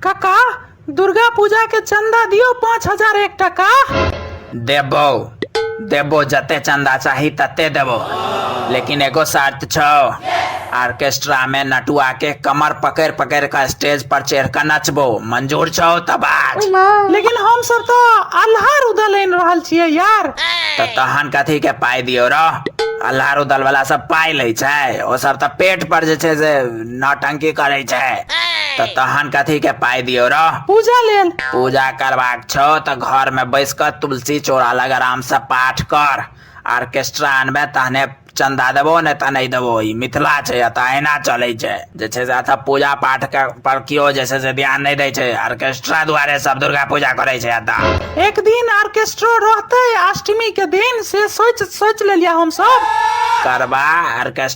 काका दुर्गा पूजा के चंदा दियो पाँच हजार एक टका देबो देबो जते चंदा चाही तते देबो लेकिन एगो शर्त छो ऑर्केस्ट्रा में नटुआ के कमर पकड़ पकड़ कर स्टेज पर चढ़ कर नचबो मंजूर छो तब आज लेकिन हम सब तो अल्हार उदल इन रहल छियै यार तो तहन कथी के पाई दियो रो अल्हार उदल वाला सब पाई ले छै ओ सब तो पेट पर जे छै से नौटंकी करै छै तऽ तहन कथी के पाइ दियौ रौ पूजा लेल पूजा करबाक छौ तऽ घर में बैस कऽ तुलसी चौरा लग आराम से पाठ कर ऑर्केस्ट्रा अनबे तहने चंदा देबो ने तऽ नहि देबो ई मिथिला छै एतऽ अहिना चलै छै जे छै से एतऽ पूजा पाठ के पर केओ जे छै से ध्यान नहि दै छै ऑर्केस्ट्रा दुआरे सब दुर्गा पूजा करै छै एतऽ एक दिन ऑर्केस्ट्रो रहते अष्टमी के दिन से सोच सोच लेलिया हम सब करबा ऑर्केस्ट्रा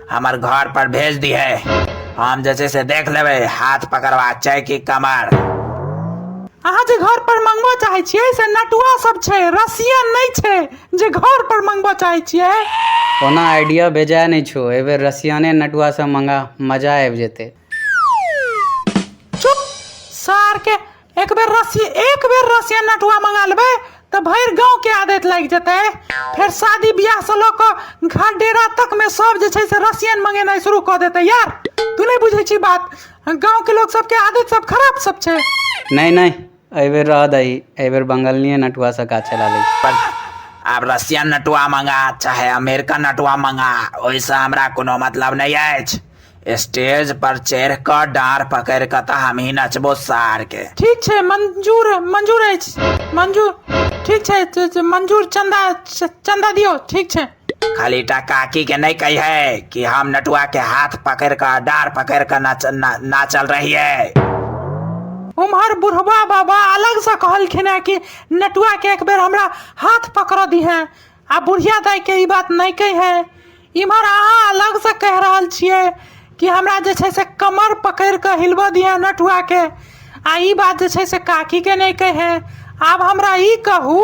हमर घर पर भेज दिहे हम जे छै से देख लेबै हाथ पकड़वा छै कि कमर अहाँ जे घर पर मंगबऽ चाहै छियै से नटुआ सब छै रसियन नहि छै जे घर पर मंगबऽ चाहै छियै ओना आइडिया बेजाय नहि छौ एहि बेर रसियाने नटुआ से मंगा मजा आबि जेतै चुप सार के एक बेर रसी एक बेर रसिया नटुआ मंगा लेबै तऽ भरि गाँव के आदत लागि जेतै फेर शादी बियाह से लऽ कऽ घर डेरा तक में सब जे छै से रसियन मंगेनाइ शुरू कऽ देतै यार तू नहि बुझै छी बात गाँव के लोग सबके आदत सब खराब सब छै नहीं नहीं एहि बेर रह दही एहि बेर बंगलनिये नटुआ से काज चला लै छी। पर आब रसियन नटुआ मंगा चाहे अमेरिकन नटुआ मंगा ओहिसँ हमरा कोनो मतलब नहि अछि स्टेज पर चढ़ि क डार पकड़ क तऽ हमही नचबो सार के ठीक छै मंजूर मंजूर अछि मंजूर ठीक छै त- त- मंजूर चंदा च- चंदा दियो ठीक छै खाली टा काकी के नहीं कही है कि हम नटुआ के हाथ पकड़ क डार पकड़ क नाच, ना, नाचल रहिए उम्हर बुढ़वा बाबा अलग से कहलखिन है कि नटुआ के एक बेर हमरा हाथ पकड़ दी है आ बुढ़िया दाइ के ई बात नहि कहे है इम्हर अहाँ अलग से कह रहल छियै कि हमरा जे छै से कमर पकड़ के हिलबऽ दिया नटुआ के आ ई बात जे छै से काकी के नहि कहे है आब हमरा ई कहू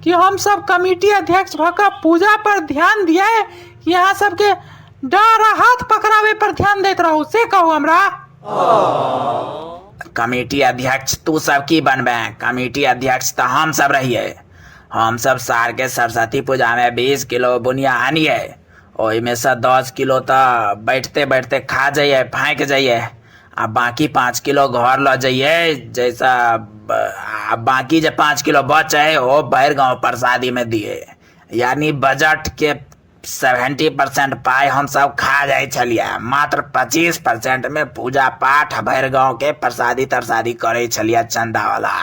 कि हम सब कमेटी अध्यक्ष भऽ कऽ पूजा पर ध्यान दिए कि अहाँ सबके डर आ हाथ पकड़ावे पर ध्यान दैत रहू से कहू हमरा कमेटी अध्यक्ष तू सब की बनबे कमेटी अध्यक्ष तऽ हम सब रहिए हम सब सार के सरस्वती पूजा में बीस किलो बुनिया आनिए ओहि में से दस किलो तो बैठते बैठते खा जाइए फाँक जाइए आ बाकी पाँच किलो घर ल जाइए जैसा आ बाकी जे पाँच किलो बचे ओ भर गाँव प्रसादी में दिए यानी बजट के सेवेन्टी परसेन्ट पाइ हमसभ खा जाइ छलियै मात्र पचीस परसेन्टमे पूजा पाठ भरि गाँवके परसादी तरसादी करै छलियै चन्दावला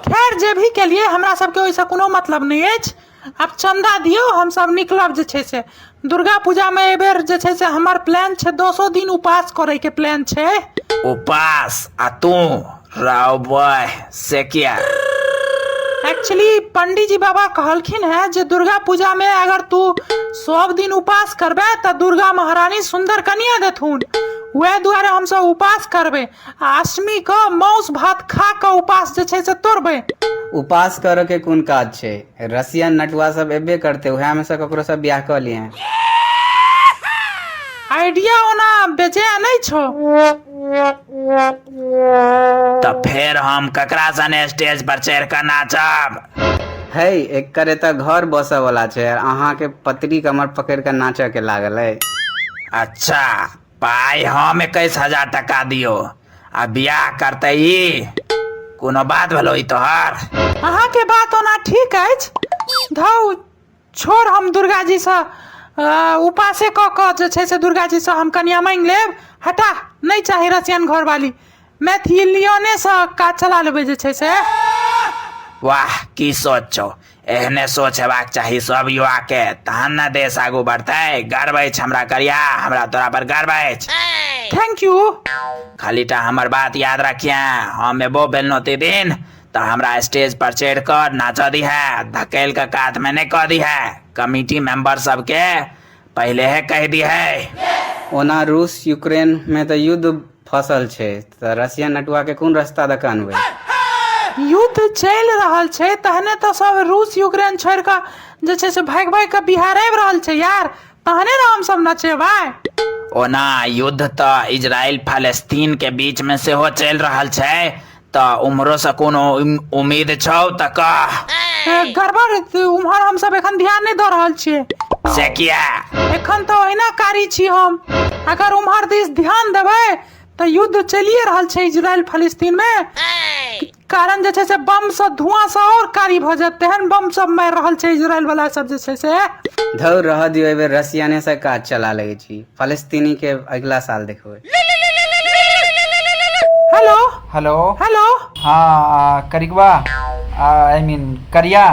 खैर जे भी केलियै हमरा सभके ओहिसँ कोनो मतलब नहि अछि आब चन्दा दियौ हमसभ निकलब जे छै से दुर्गा पूजामे एहिबेर जे छै से हमर प्लान छै दसो दिन उपास करैके प्लान छै उपास आ तू राव बॉय से क्या एक्चुअली पंडित जी बाबा कहलखिन है जे दुर्गा पूजा में अगर तू सब दिन उपास करबे तो दुर्गा महारानी सुंदर कन्या देथुन वह दुआरे हम सब उपास करबे आ अष्टमी के मांस भात खा के उपास जे छै से तोड़बे उपास करऽ के कोन काज छै रसियन नटुआ सब एबे करते उहे में से ककरो सब बियाह कऽ लिए आइडिया ओना बेजाय नहीं छो तऽ फेर हम ककरा सने स्टेज पर चढ़ि कऽ नाचब है एकर एतऽ घर बसऽ वाला छै आर अहाँ के पतरी कमर पकड़ के नाचऽ के लागल है अच्छा पाइ हम एकैस हजार टका दियो आ बियाह करते ई कोनो बात भेलो ई तोहर अहाँके बात ओना ठीक अछि धौ छोड़ हम दुर्गाजीसँ उपासे कऽ कऽ जे छै से दुर्गाजीसँ हम कनिया माँगि लेब हटा नहि चाही रसियन घरवाली मैथिलियनेसँ काज चला लेबै जे छै से वाह की सोच छौ एहने सोच हेबाक चाही सब युवा के तहन ने देश आगू बढ़तै गर्व अछि हमरा करिया हमरा तोरा पर गर्व अछि थैंक यू खाली टा हमर बात याद रखिए हम एबो बेलनौती दिन तऽ हमरा स्टेज पर चढ़ि कऽ नाचऽ दिहे धकेल कऽ कात मे नहि कऽ दिहे कमिटी मेंबर सबके पहिले हे कहि दिहे ओना रूस यूक्रेन मे तऽ युद्ध फसल छै तऽ रशिया नटुआ के कोन रास्ता दऽ कऽ अनबै युद्ध चलि रहल छै तहने तऽ सब रूस यूक्रेन छोड़ि कऽ जे छै से भागि भागि कऽ बिहार आबि रहल छै यार तहने ने हमसभ नचेबै ओना युद्ध तऽ इजराइल फालस्तीन के बीच मे सेहो चलि रहल छै तऽ उम्हरोसँ कोनो उम- उम्मीद छौ तऽ कह ए, गड़बड़ तऽ उम्हर हमसभ एखन ध्यान नहि दऽ रहल छियै से किया एखन तऽ ओहिना कारी छी हम अगर उम्हर दिस ध्यान देबै तऽ युद्ध चलिए रहल छै इजराइल फलिस्तीन मे कारण जे छै से बम से धुआं से और कारी भऽ जायत तेहन बम सब मारि रहल छै इजराइल वाला सब जे छै से धौर रहऽ दियौ एहि बेर रसियानेसँ काज चला लै छी फलस्तीनी के अगिला साल देखबै हेलो हेलो हेलो हँ करिकबा आई मीन करिया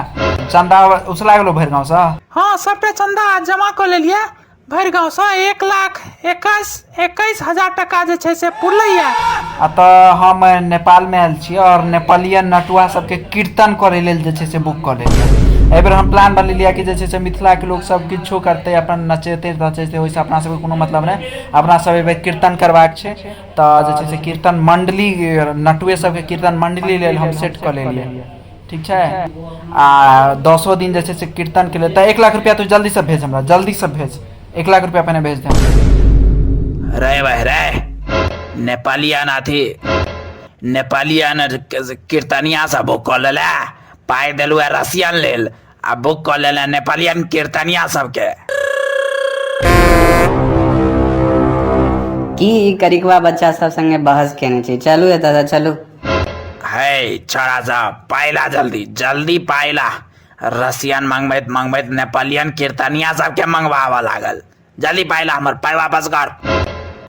चंदा उसला गेलो भरि गाँव से हँ सबटा चंदा जमा कऽ लेलियै भरि गाँवसँ एक लाख एकैस एकैस हजार टाका जे छै से पुरलैए अतः हम नेपाल में आयल छी और नेपालीय नटुआ सबके कीर्तन करे लेल जे छै से बुक कर लेलियै एहि बेर हम प्लान बन लेलियै कि जे छै से मिथिला के लोग सब किछो करते अपन नचेते नचेते ओहिसँ अपना सबके कोनो मतलब नहि अपना सब एहि बेर कीर्तन करबाक छै तऽ जे छै से कीर्तन मंडली नटुए सबके कीर्तन मंडली लेल हम सेट कऽ लेलियै ठीक छै आ दसो दिन जे छै से कीर्तन के लिए तऽ एक लाख रुपया तू जल्दी से भेज हमरा जल्दी से भेज एक लाख रुपया पहिने भेज दे रे भाई रे नेपाली आना थी नेपाली आना कीर्तनिया सब कॉल पाई दिलुआ रसियन लेल आ बुक कऽ लेले नेपालियन कीर्तनिया सबके की ई करिकवा बच्चा सब संगे बहस केने छी चलू एतऽ से चलू है छोरा सब पाइला जल्दी जल्दी पाइला रसियन मंगबैत मंगबैत नेपालियन कीर्तनिया सबके मंगबाबऽ लागल जल्दी पाय ला हमर पाय वापस कर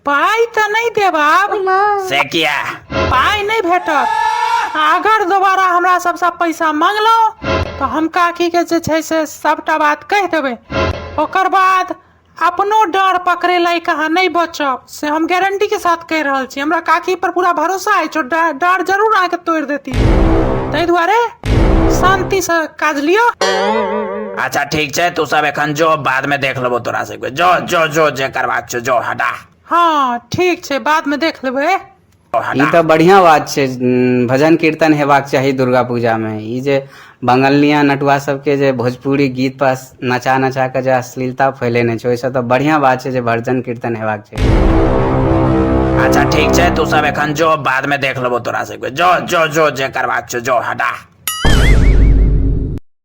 पाइ तऽ नहि देब आब से किया पाइ नहि भेटत अगर दोबारा हमरा सबसँ पैसा मङ्गलहुँ तऽ हम काकीके जे छै से सभटा बात कहि देबै ओकर बाद अपनो डर पकड़ै लायक अहाँ नहि बचब से हम गारंटी के साथ कहि रहल छी हमरा काकी पर पूरा भरोसा अछि ओ डा- डार जरूर अहाँके तोड़ि देती ताहि दुआरे शांति से काज लिअ अच्छा ठीक छै तू सब एखन जो बाद में देख लेबो तोरा सबके जो जो जो जे करबाक छौ जो हटा हाँ ठीक छै बाद में देख लेबै ई तऽ बढ़िआँ बात छै भजन कीर्तन हेबाक चाही दुर्गा पूजामे ई जे बंगलनिया नटुआ सबके जे भोजपुरी गीत पर नचा नचा कऽ जे अश्लीलता फैलेने छै ओहिसँ तऽ बढ़िआँ बात छै जे भजन कीर्तन हेबाक चाही अच्छा ठीक छै तू सब एखन जो बाद में देख लेबो तोरा सबके जो जो जो जे करबाक छौ जो हटा